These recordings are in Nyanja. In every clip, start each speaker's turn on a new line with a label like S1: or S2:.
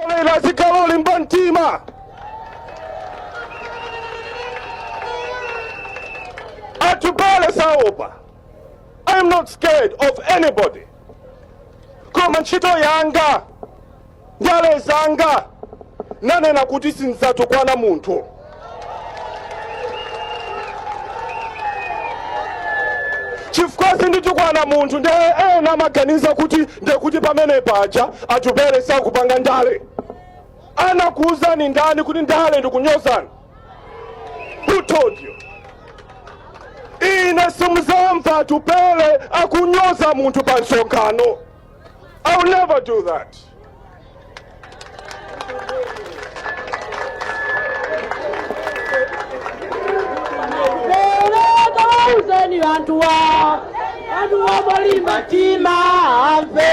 S1: Ena azikhala olimba mtima. Atupele saopa. I am not scared of anybody. Koma ntchito yanga, ndale zanga, nanena kuti sindidzatukwana munthu. chifukwa sinditukwana munthu nde ena amaganiza kuti ndekuti pamene paja atupele sakupanga ndale anakuuzani ndani kuti ndale ndikunyozana who told you ine simuzamva atupele akunyoza munthu pa msonkhano I will never do
S2: that. Uzeni anthu wa anthu wolimba mtima amve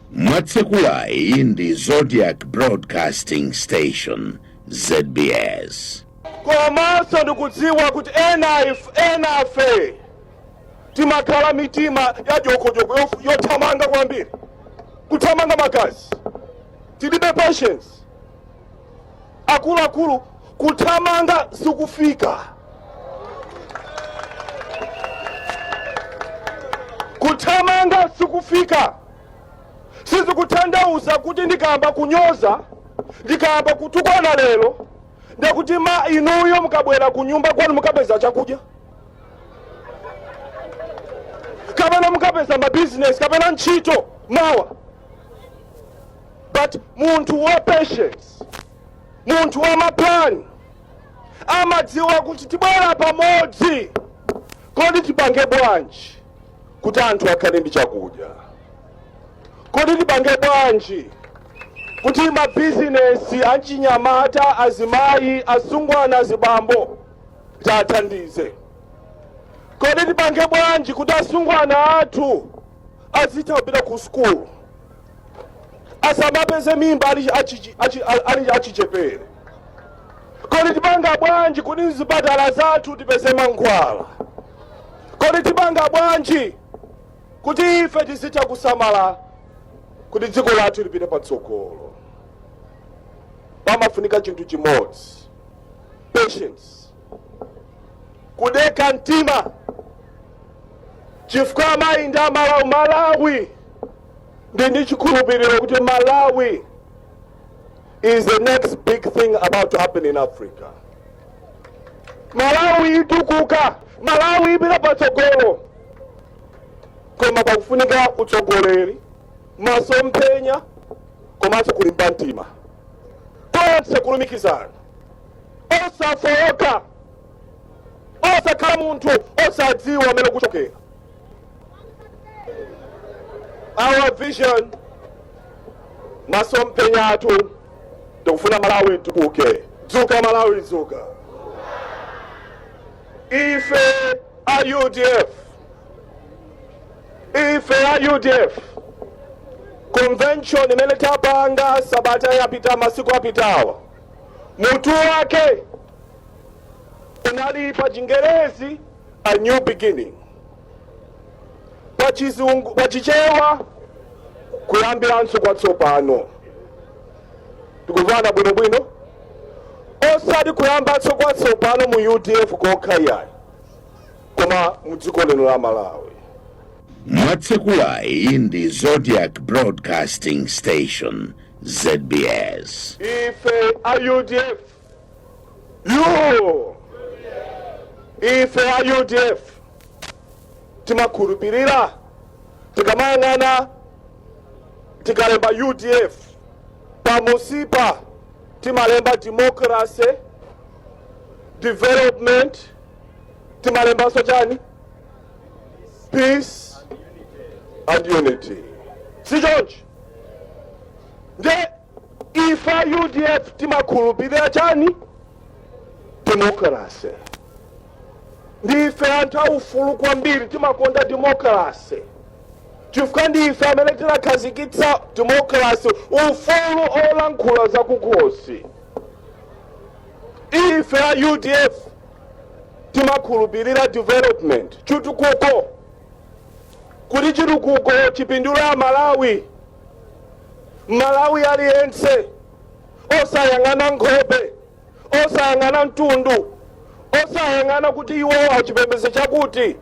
S3: Mwatsekulayi ndi Zodiak Broadcasting Station, zbs.
S1: Komanso ndikudziwa kuti enafe timakhala mitima ya jokojoko yothamanga kwambiri kuthamanga magazi tilibe patience akuluakulu kuthamanga sikufika kuthamanga sikufika sizikutanthauza kuti ndikayamba kunyoza ndikayamba kutukwana lero ndekuti ma inuyo mukabwera ku nyumba kwanu mukapeza chakudya kapena mukapeza mabizinesi kapena ntchito mawa but munthu wa patience munthu wa mapulani amadziwa kuti tibwera pamodzi kodi tipange bwanji kuti anthu akhale ndi chakudya kodi tipange bwanji kuti mabizinesi achinyamata azimayi asungwana azibambo tiathandize kodi tipange bwanji kuti asungwana athu azitha kupita ku sukulu asamapeze mimba ali achichi- achi- ali achichepere Kodi tipanga bwanji kuti mzipatala zathu tipeze mankhwala? Kodi tipanga bwanji kuti ife tizitha kusamala kuti dziko lathu lipite patsogolo? Pamafunika chinthu chimodzi, patience, kudeka mtima, chifukwa amayi ndi amalawi malawi ndili ndi chikhulupiriro kuti malawi is the next big thing about to happen in Africa. Malawi itukuka, Malawi ipita patsogolo. Koma pakufunika utsogoleri, masomphenya komanso kulimba mtima. Tonse kulumikizana, osafowoka, osakhala munthu osadziwa kumene ukuchokera. our vision masomphenya athu tikufuna malawi itukuke dzuka malawi dzuka ife a udf ife a udf convention imene tapanga sabata yapita masiku apitawa mutu wake unali pa chingerezi A new beginning. Pachichewa kuyambiranso kwatsopano. Tikuvana bwinobwino osati kuyambanso kwatsopano mu udf kokha iyayi koma mu dziko lino la malawi
S3: mwatsekulayi ndi zodiac broadcasting station zbs ife
S1: a udf yoo ife a udf timakhulupirira tikamayang'ana tikalemba udf pamusipa timalemba democracy development timalembanso chani peace and unity si choncho nde Ife a udf timakhulupirira chani? Demokrase. Ndife anthu aufulu kwambiri, timakonda demokrase chifukwa ndife amene tinakhazikitsa demokrase, ufulu olankhula zakukhosi. Ife a udf timakhulupirira development, chitukuko, kuti chitukuko chipindule Amalawi. M'malawi aliyense osayang'ana nkhope, osayang'ana mtundu, osayang'ana kuti iwo achipembedzo chakuti,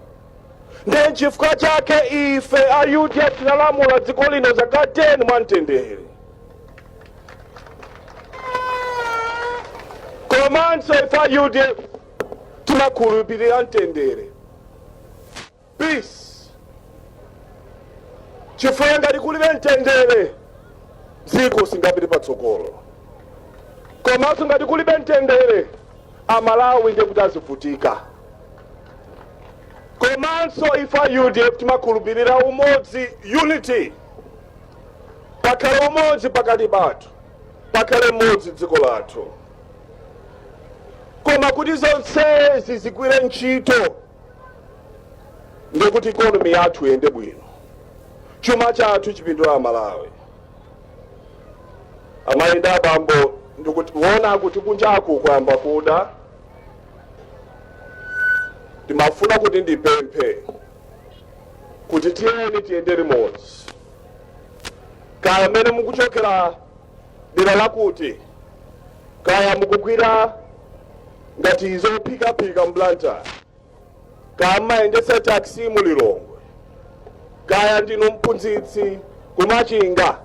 S1: ndiye nchifukwa chake ife a udf tinalamula dziko lino zaka 10 mwamtendere. Komanso ife a udf timakhulupirira mtendere. peace chifukwa ngati kulibe mtendere dziko singapite patsogolo komanso ngati kulibe mtendere amalawi ndiye kuti azivutika komanso ife a udf timakhulupirira umodzi unity pakhale umodzi pakati pathu pakhale umodzi dziko lathu koma kuti zonsezi zigwire ntchito ndiye kuti ikonomi yathu iyende bwino chuma chathu chipindulire amalawi amayi ndi abambo ndikutiona kuti kunjaku kwayamba kuda ndimafuna kuti ndipemphe kuti tiyeni tiyende limodzi kaya amene mukuchokera dera lakuti kaya mukugwira ngati zophikaphika mu Blantyre kaya mumayendetsa taxi mu lilongwe kaya ndinu mphunzitsi kumachinga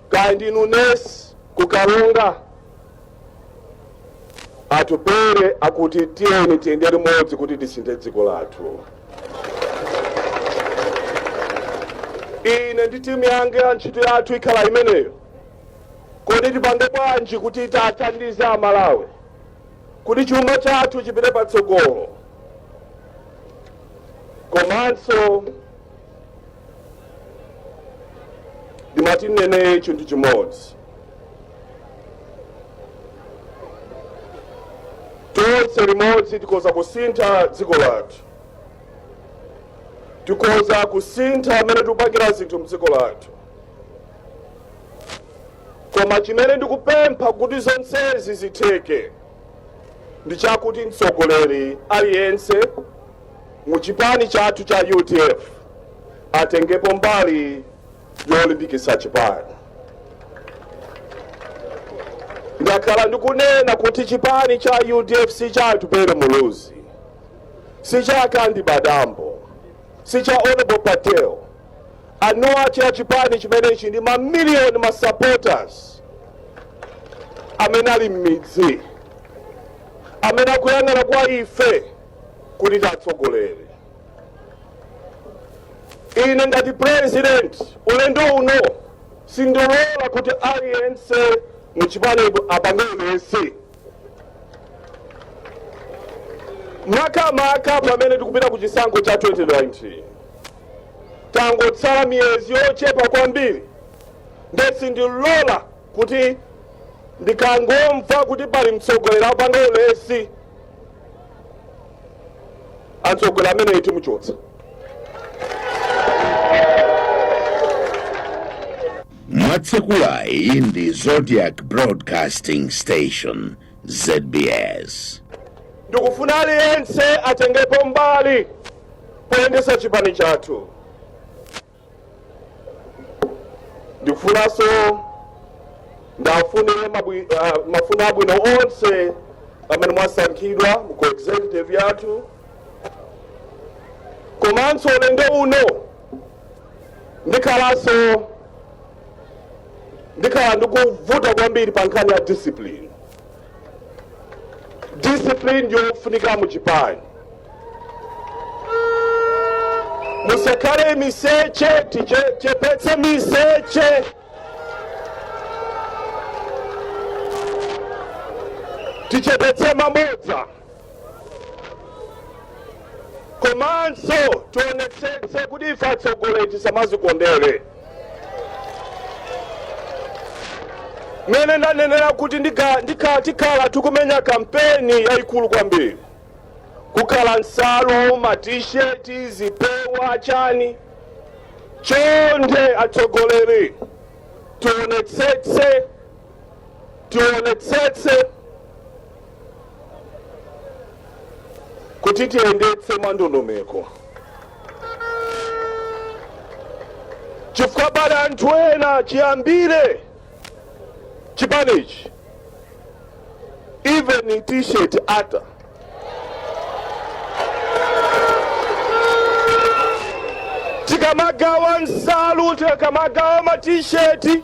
S1: kaya ndinu nesi kukaronga atupele akuti tiyeni tiyende limodzi kuti tisinthe dziko lathu ine ndi timu yange ya ntchito yathu ikhala imeneyo kodi tipange bwanji kuti tiwathandize amalawi kuti chuma chathu chipite patsogolo komanso ndimati ndinene chinthu chimodzi tonse limodzi tikoza kusintha dziko lathu tikoza kusintha mmene tikupangira zinthu mdziko lathu koma chimene ndikupempha kuti zonsezi zitheke ndi chakuti mtsogoleri aliyense mu chipani chathu cha udf atengepo mbali yolimbikitsa chipani ndakhala ndikunena kuti chipani cha udf si cha atupele muluzi si cha kandi padambo si cha honorable patel eni ake a chipani chimenechi ndi mamiliyoni ma supporters amene ali m'midzi amene akuyang'ana kwa ife kuti tiwatsogolere ine ngati president ulendo uno sindilola kuti aliyense muchipanimo apange ulesi makamaka pamene tikupita ku chisankho cha 2019 tangotsala miyezi yochepa kwambiri nde sindilola kuti ndikangomva kuti pali mtsogoleri apanga ulesi mtsogoleri ameneyi timuchotsa
S3: mwatsekulayi ndi zodiak broadcasting station
S1: zbs ndikufuna aliyense atengepo mbali poyendesa chipani chathu ndikufunanso ndifunire mafuno abwino onse amene mwasankhidwa mu executive yathu komanso ulendo uno ndikhalanso ndikhala ndikuvuta kwambiri pa nkhani ya discipline discipline ndiyofunika mu chipani musakhale miseche tichepetse miseche tichepetse mabodza komanso tionetsetse kuti ife atsogoleri tisamazikondere mene ndanenera kuti tikhala tikumenya kampeni yayikulu kwambiri kukhala nsalu matisheti zipewa chani chonde atsogoleri tio- tionetsetse kuti tiziyendetse mwandondomeko chifukwa pali anthu ena chiyambire chipanichi even t-shirt ata tikamagawa nsalu tikamagawa matisheti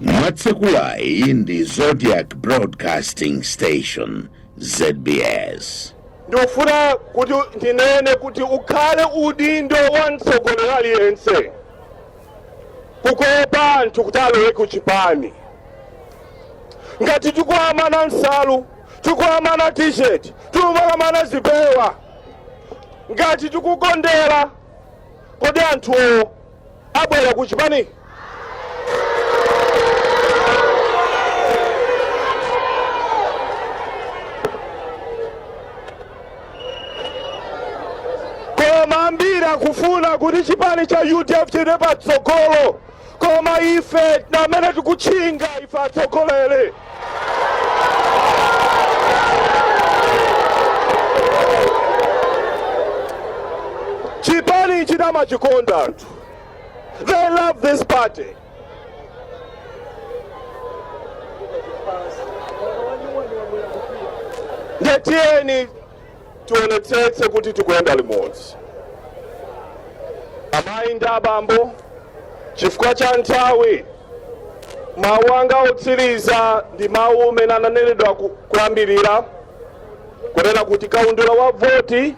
S3: mwatsekulayi ndi zodiak broadcasting station zbs ndikufuna
S1: kuti ndinene kuti ukhale udindo wa mtsogoleri aliyense kukopa anthu kuti alowe ku chipani ngati tikuwamana nsalu tikuwamana t-shirt tikuwamana zipewa ngati tikukondera kodi anthuwo abwera ku chipani koma ambiri akufuna kuti chipani cha udf chipite patsogolo koma ife amene tikutchinga ife atsogoleri chipani ichi amachikonda anthu they love this party ndiye tiyeni tionetsetse kuti tikuyenda limodzi amayi ndi abambo chifukwa cha nthawi mawu anga otsiriza ndi mawu amene ananenedwa kuyambirira kunena kuti kaundula wa voti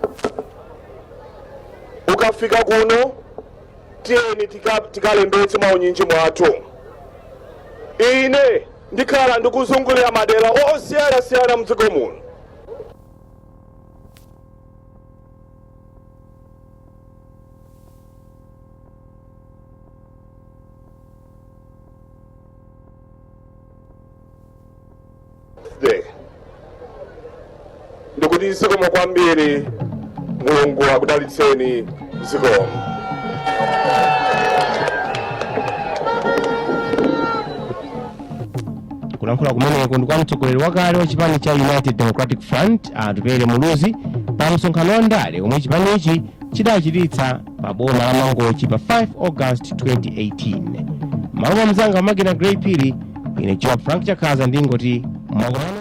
S1: ukafika kuno tiyeni tikalembetse mwaunyinji mwathu ine ndikhala ndikuzungulira madera osiyanasiyana mdziko muno ndikuti zikomo kwambiri mulungu akudalitseni zikomo
S4: kulankhula kumeneko ndi kwa mtsogoleri wakale wa chipani cha united democratic front atupele muluzi pa msonkhano wa ndale omwe chipanichi chidachititsa pa boma la mangochi pa 5 august 2018 mmalo mwa mzanga wa pa makina grey phiri ine joab frank chakhaza ndingoti mwakomano